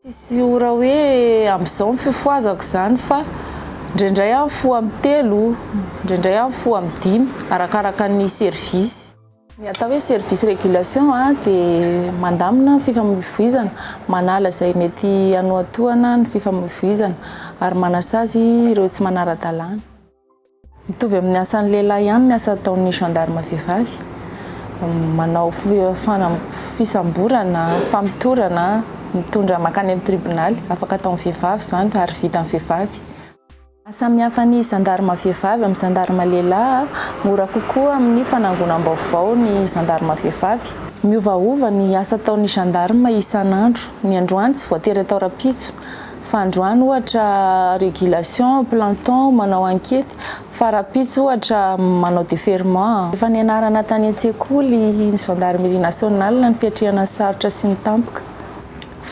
Tsisy ora hoe amin'izao ny fifohazako izany fa indraindray aho mifoha amin'ny telo, indraindray aho mifoha amin'ny dimy arakaraka ny service. Ny atao hoe service régulation dia mandamina ny fifamoivoizana, manala izay mety hanohatohana ny fifamoivoizana ary manasazy ireo tsy manara-dalàna. Mitovy amin'ny asan'ny lehilahy ihany ny asa ataon'ny gendarme vehivavy. Manao fisamborana, famotorana, mitondra mankany amin'ny tribonaly. Afaka ataon'ny vehivavy izany ary vitan'ny vehivavy. Mahasamihafa ny gendarme vehivavy amin'ny gendarme lehilahy, mora kokoa amin'ny fanangonam-baovao ny gendarme vehivavy. Miovaova ny asa ataon'ny gendarme isan'andro. Ny androany tsy voatery atao rahampitso. fa androany ohatra régulation, planton, manao ankety, fa rahampitso ohatra manao déferrement. Efa nianarana tany an-tsekoly ny gendarmerie nationale ny fiatrehana ny sarotra sy ny tampoka.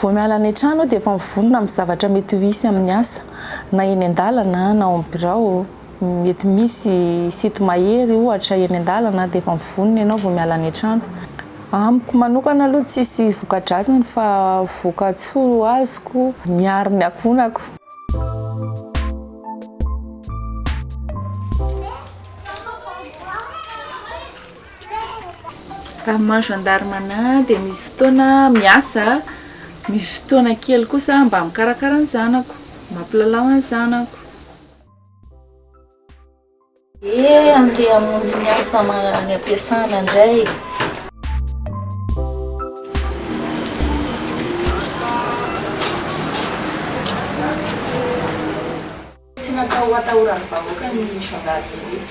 Vao miala any an-trano aho dia efa mivonona amin'ny zavatra mety ho hisy amin'ny asa, na eny an-dalana na ao amin'ny birao. Mety misy site mahery ohatra eny an-dalana dia efa mivonona ianao vao miala any an-trano. Amiko manokana aloha tsisy voka-dratsiny fa voka-tsoa azoko, miaro ny akonako. Raha maha gendarme anah dia misy fotoana miasa, misy fotoana kely kosa mba mikarakara ny zanako, mampilalao ny zanako. Eh andeha hamonjy ny asa any am-piasana indray. Tsy natao ho atahoran'ny vahoaka ny zandarimaria.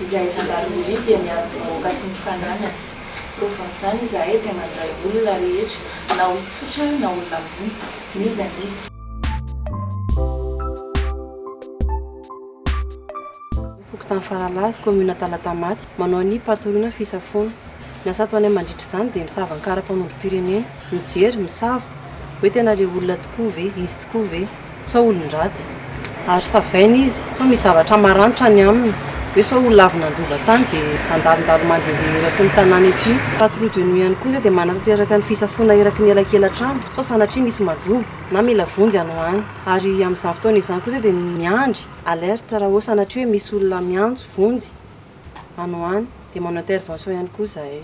Izahay zandarimaria dia miaro ny vahoaka sy ny fananany. Provan'izany izahay dia mandray olona rehetra na olon-tsotra na olona ambony, n'iza n'iza. Fokontany Faralaza, kaominina Talatamaty, manao ny patoloana fisafoana. Ny asa ataonay mandritra izany dia misava ny karapanondrom-pirenena, mijery, misava, hoe tena ilay olona tokoa ve, izy tokoa ve, sa olon-dratsy. Ary savaina izy, sao misy zavatra maranitra any aminy, hoe sao ho lavo nandroba tany dia handalondalo mandehandeha eraky ny tanàna ety. Patrouille de nuit ihany koa izay dia manatanteraka ny fisafoana eraky ny elakelan-trano, sao sanatria misy mandroba na mila vonjy any ho any. Ary amin'izany fotoana izany koa izay dia miandry alerte raha hoe sanatria hoe misy olona miantso vonjy any ho any dia manao intervention ihany koa izahay.